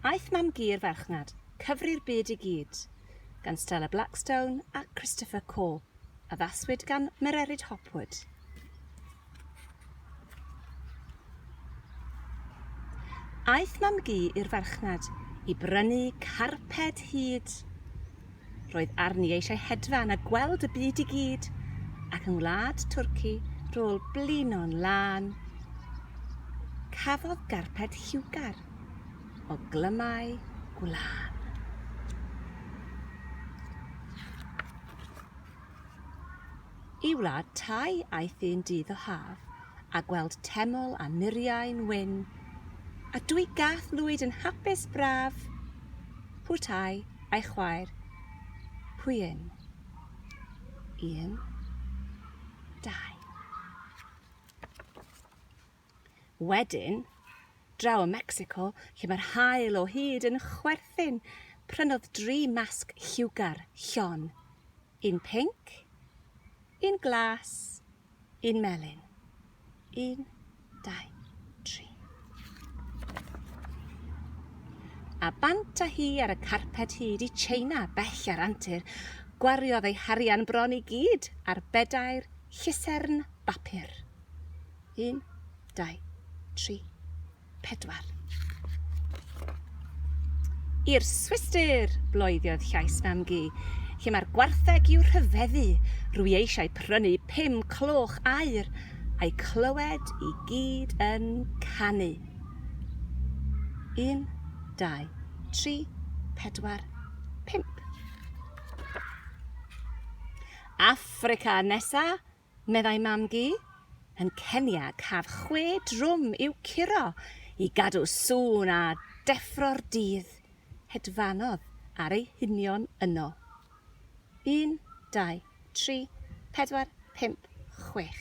Aeth Mam Gu i'r Farchnad, Cyfri'r Byd i Gyd, gan Stella Blackstone a Christopher Cole, addaswyd gan Mererid Hopwood. Aeth Mam Gu i'r Farchnad i brynu carped hud. Roedd arni eisiau hedfan a gweld y byd i gyd, ac yng ngwlad Twrci, rôl blino'n lân, cafodd garped lliwgar o glymau gwlân. I wlad Thai aeth un dydd o haf a gweld teml a muriau'n wyn, a dwy gath lwyd yn hapus braf, Phu Thai a'i chwaer, Phu Inn. Un. Dau. Wedyn, draw ym Mecsico, lle mae'r haul o hyd yn chwerthin, prynodd dri masg lliwgar, llon, Un pinc, un glas, un melyn. Un, dau, tri. A bant a hi ar y carped hyd i China bell ar antur, gwariodd ei harian bron i gyd ar bedair llusern bapur. Un, dau, tri. pedwar. I'r Swistir! bloediodd llais fam-gu. Lle mae'r gwartheg i'w rhyfeddu? Rwy eisiau prynu pum cloch aur, a'u clywed i gyd yn canu. Un, dau, tri, pedwar, pump. Affrica nesa, meddai Mam-gu, yn Kenya caf chwe drwm i'w curo i gadw sŵn a deffro'r dydd, hedfanodd ar ei hunion yno. Un, dau, tri, pedwar, pump, chwech.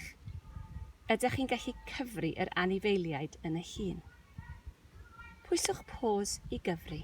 Ydych chi'n gallu cyfri yr anifeiliaid yn y llun? Pwyswch pause i gyfri.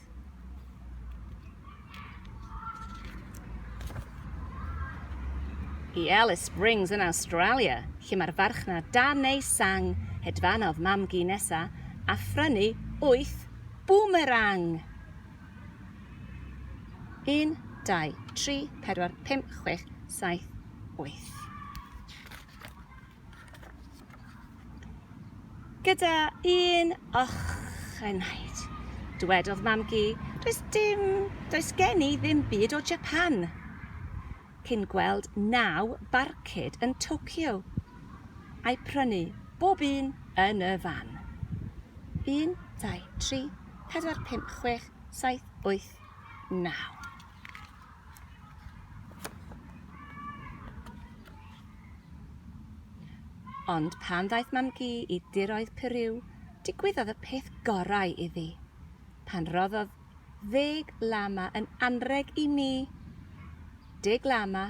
I Alice Springs yn Awstralia, lle mae'r farchnad dan ei sang, hedfanodd mam-gu nesa a phrynu wyth boomerang! Un, dau, tri, pedwar, pump, chwech, saith, wyth. Gyda un ochenaid, dywedodd Mam-gu, does dim, does gen i ddim byd o Japan! Cyn gweld naw barcud yn Tokyo, a'i prynu bob un yn y fan. Un, dau, tri, pedwar, pump, chwech, saith, wyth, naw. Ond pan ddaeth Mam-gu i diroedd Puriw, digwyddodd y peth gorau iddi. Pan roddodd ddeg lama yn anrheg i ni, deg lama